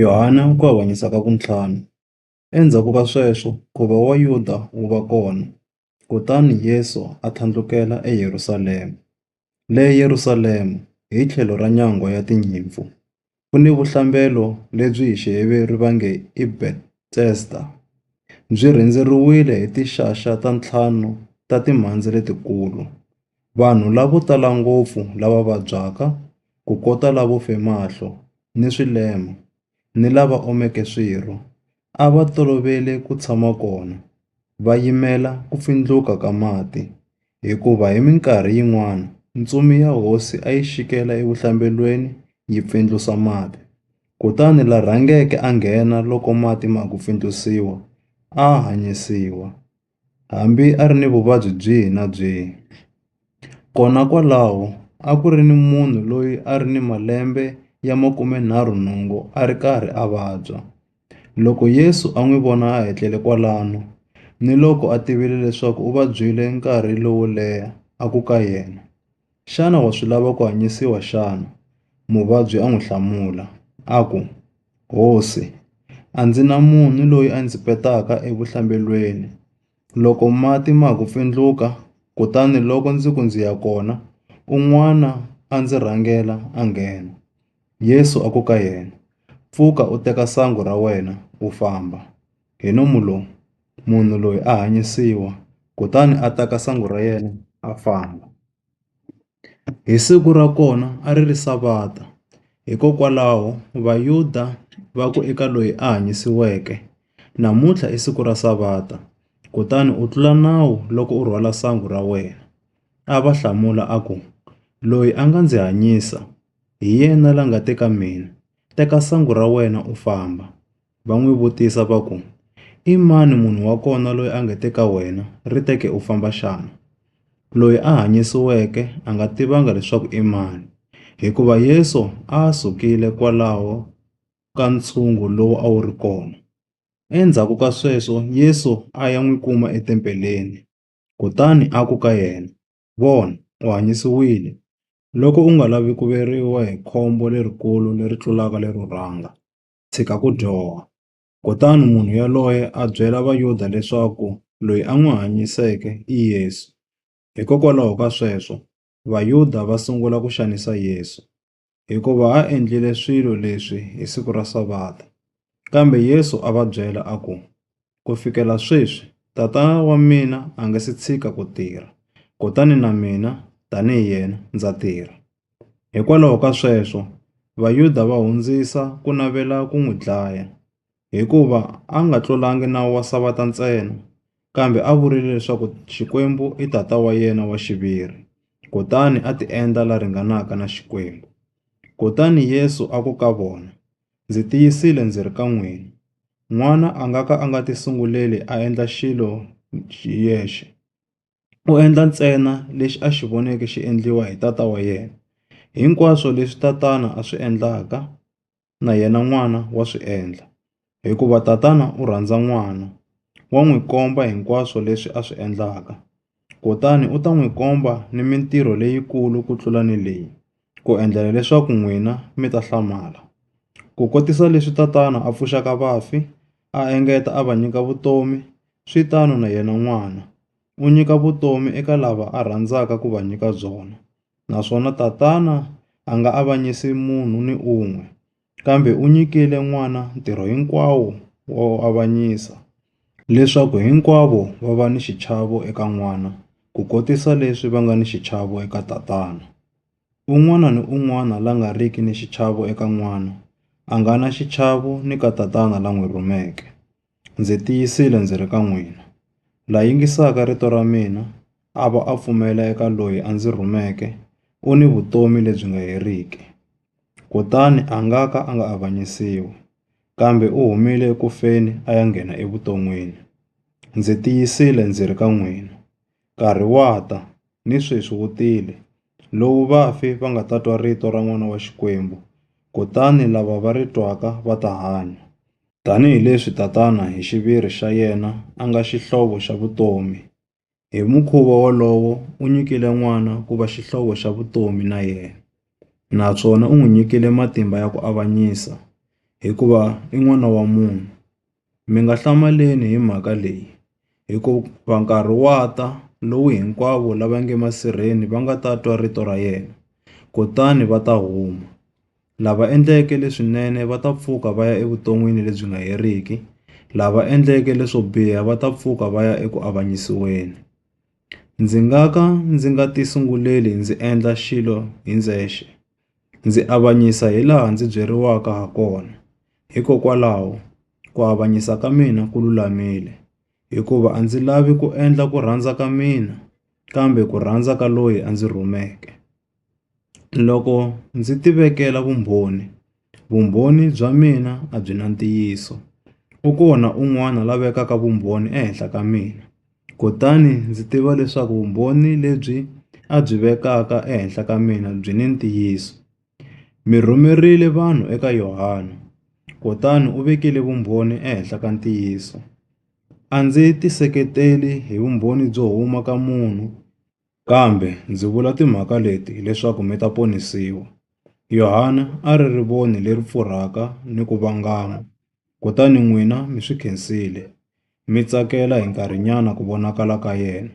Yohane u ku avanyisa ka vuntlhanu. Endzhaku ka sweswo nkhuvo wa Yuda wu va kona, kutani Yesu a tlhandlukela eYerusalema. Le Yerusalema, hi tlhelo ra Nyangwa ya Tinyimpfu, ku ni vuhlambelo lebyi hi Xiheveru va nge i Bethesda, byi rhendzeriwile hi tinxaxa ta ntlhanu ta timhandze letikulu. vanhu lavo tala ngopfu lava vabyaka, kukota lavo fe mahlo ni swilema, ni lava omeke swirho a va tolovele ku tshama kona va yimela ku pfindluka ka mati, hikuva hi minkarhi yin'wana ntsumi ya hosi a yi xikela evuhlambelweni yi pfindlusa mati, kutani la rhangeke a nghena loko mati ma ha ku pfindlusiwa a hanyisiwa. Hambi a ri ni vuvabyi byihi na byihi, kona kwalaho a ku ri ni munhu loyi a ri ni malembe ya makumenharhunhungu a ri karhi a vabya. Loko Yesu a n'wi vona a etlele kwalano, niloko a tivile leswaku u vabyile nkarhi lowo leha, a ku ka yena, Xana wa swi lava ku hanyisiwa xana? Muvabyi a n'wi hlamula, a ku, Hosi, a ndzi na munhu loyi a ndzi petaka evuhlambelweni loko mati ma ha ku pfindluka, kutani loko ndzi ku ndzi ya kona, un'wana a ndzi rhangela a nghena. Yesu a ku ka yena, Pfuka u teka sangu ra wena u famba. hi nomu lowu, munhu loyi a hanyisiwa, kutani a teka sangu ra yena a famba. Hi siku ra kona a ri ri Savata, hikokwalaho Vayuda va ku eka loyi a hanyisiweke, Namuntlha i siku ra Savata, kutani u tlula nawu loko u rhwala sangu ra wena. A va hlamula a ku, Loyi a nga ndzi hanyisa, hi yena la nga te ka mina, Teka sangu ra wena u famba. va n'wi vutisa va ku, I mani munhu wa kona loyi a nge te ka wena, Ri teke u famba xana? Loyi a hanyisiweke a nga tivanga leswaku i mani, hikuva Yesu a a sukile kwalaho ka ntshungu lowu a wu ri kona. Endzhaku ka sweswo Yesu a ya n'wi kuma etempeleni, kutani a ku ka yena, Vona, u hanyisiwile! Loko u nga lavi ku veriwa hi khombo lerikulu leri tlulaka lero rhanga. tshika ku dyoha. Kutani munhu yoloye a byela Vayuda leswaku loyi a n'wi hanyiseke i Yesu. Hikokwalaho ka sweswo, Vayuda va sungula ku xanisa Yesu, hikuva a endlile swilo leswi hi siku ra Savata. Kambe Yesu a va byela a ku, Ku fikela sweswi, tata wa mina a nga si tshika ku tirha, kutani na mina tanihi yena ndza tirha. Hikwalaho ka sweswo, Vayuda va hundzisa ku navela ku n'wi dlaya, hikuva a nga tlulangi nawu wa Savata ntsena, kambe a vurile leswaku Xikwembu i tata wa yena wa xiviri, kutani a tiendla la ringanaka na Xikwembu. Kutani Yesu a ku ka vona, Ndzi tiyisile ndzi ri ka n'wina, N'wana a nga ka a nga tisunguleli a endla xilo hi yexe. U endla ntsena lexi a xi voneke xi endliwa hi Tata wa yena. Hinkwaswo leswi Tatana a swi endlaka, na yena N'wana wa swi endla, hikuva Tatana u rhandza N'wana, wa n'wi komba hinkwaswo leswi a swi endlaka. Kutani u ta n'wi komba ni mintirho leyikulu ku tlula ni leyi, ku endlela leswaku n'wina mi ta hlamala. Ku kotisa leswi tatana a pfuxaka vafi, a engeta a va nyika vutomi, swi tano na yena N'wana, u nyika vutomi eka lava a rhandzaka ku va nyika byona. Naswona Tatana a nga avanyisi munhu ni un'we. kambe u nyikile n'wana ntirho hinkwawo wo avanyisa, leswaku hinkwavo va va ni xichavo eka n'wana ku kotisa leswi va nga ni xichavo eka Tatana. Un'wana ni un'wana la nga riki ni xichavo eka n'wana, a nga na xichavo ni ka Tatana la n'wi rhumeke. Ndzi tiyisile ndzi ri ka n'wina, la yingisaka rito ra mina a va a pfumela eka loyi a ndzi rhumeke u ni vutomi lebyi nga heriki, kutani a nga ka a nga avanyisiwi, kambe u humile eku feni a ya nghena evuton'wini. Ndzi tiyisile ndzi ri ka n'wina. Nkarhi wa ta, ni sweswi wu tile, lowu vafi va nga ta twa rito ra N'wana wa Xikwembu, kutani lava va ri twaka va ta hanya. Tanihi leswi Tatana hi xiviri xa yena a nga Xihlovo xa vutomi, hi mukhuva wolowo u nyikile N'wana ku va Xihlovo xa vutomi na yena, naswona u n'wi nyikile matimba ya ku avanyisa, hikuva i N'wana wa munhu. Mi nga hlamaleni hi mhaka leyi, hikuva nkarhi wa ta lowu hinkwavo lava nge masirheni va nga ta twa rito ra yena, kutani va ta huma. Lava endleke leswinene va ta pfuka va ya evuton'wini lebyi nga heriki, lava endleke leswo biha va ta pfuka va ya eku avanyisiweni. Ndzi nga ka ndzi nga tisunguleli ndzi endla xilo hi ndzexe. Ndzi avanyisa hilaha ndzi byeriwaka hakona, hikokwalaho ku avanyisa ka mina ku lulamile. Hikuva a ndzi lavi ku endla ku rhandza ka mina, kambe ku rhandza ka loyi a ndzi rhumeke. Loko ndzi ti vekela vumbhoni, vumbhoni bya mina a byi na ntiyiso. U kona un'wana la vekaka vumbhoni ehenhla ka mina. Kutani ndzi tiva leswaku vumbhoni lebyi a byi vekaka ehenhla ka mina byi ni ntiyiso. Mi rhumerile vanhu eka Yohana, kutani u vekile vumbhoni ehenhla ka ntiyiso. A ndzi tiseketeli hi vumbhoni byo huma ka munhu, kambe ndzi vula timhaka leti leswaku mi ta ponisiwa. Yohana a ri rivoni leri pfurhaka ni ku vangama. kutani n'wina mi swi khensile, mi tsakela hi nkarhinyana ku vonakala ka yena.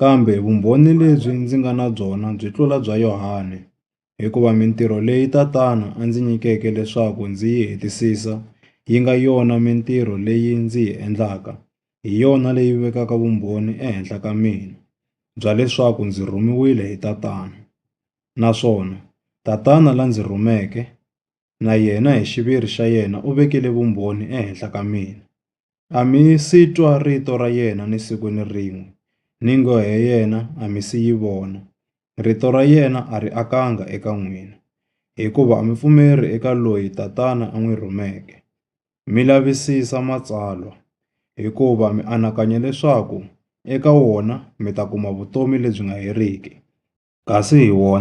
Kambe vumbhoni lebyi ndzi nga na byona byi tlula bya Yohane, hikuva mintirho leyi Tatana a ndzi nyikeke leswaku ndzi yi hetisisa yi nga yona mintirho leyi ndzi yi endlaka, hi yona leyi vekaka vumbhoni ehenhla ka mina, bya leswaku ndzi rhumiwile hi Tatana. Naswona Tatana la ndzi rhumeke, na yena hi xiviri xa yena u vekile vumbhoni ehenhla ka mina. A mi si twa rito ra yena ni siku ni rin'we, ni nghohe yena a mi si yi vona, rito ra yena a ri akanga eka n'wina, hikuva a mi pfumeri eka loyi Tatana a n'wi rhumeke. Mi lavisisa Matsalwa, hikuva mi anakanya leswaku eka wona mi ta kuma vutomi lebyi nga heriki, kasi hi wona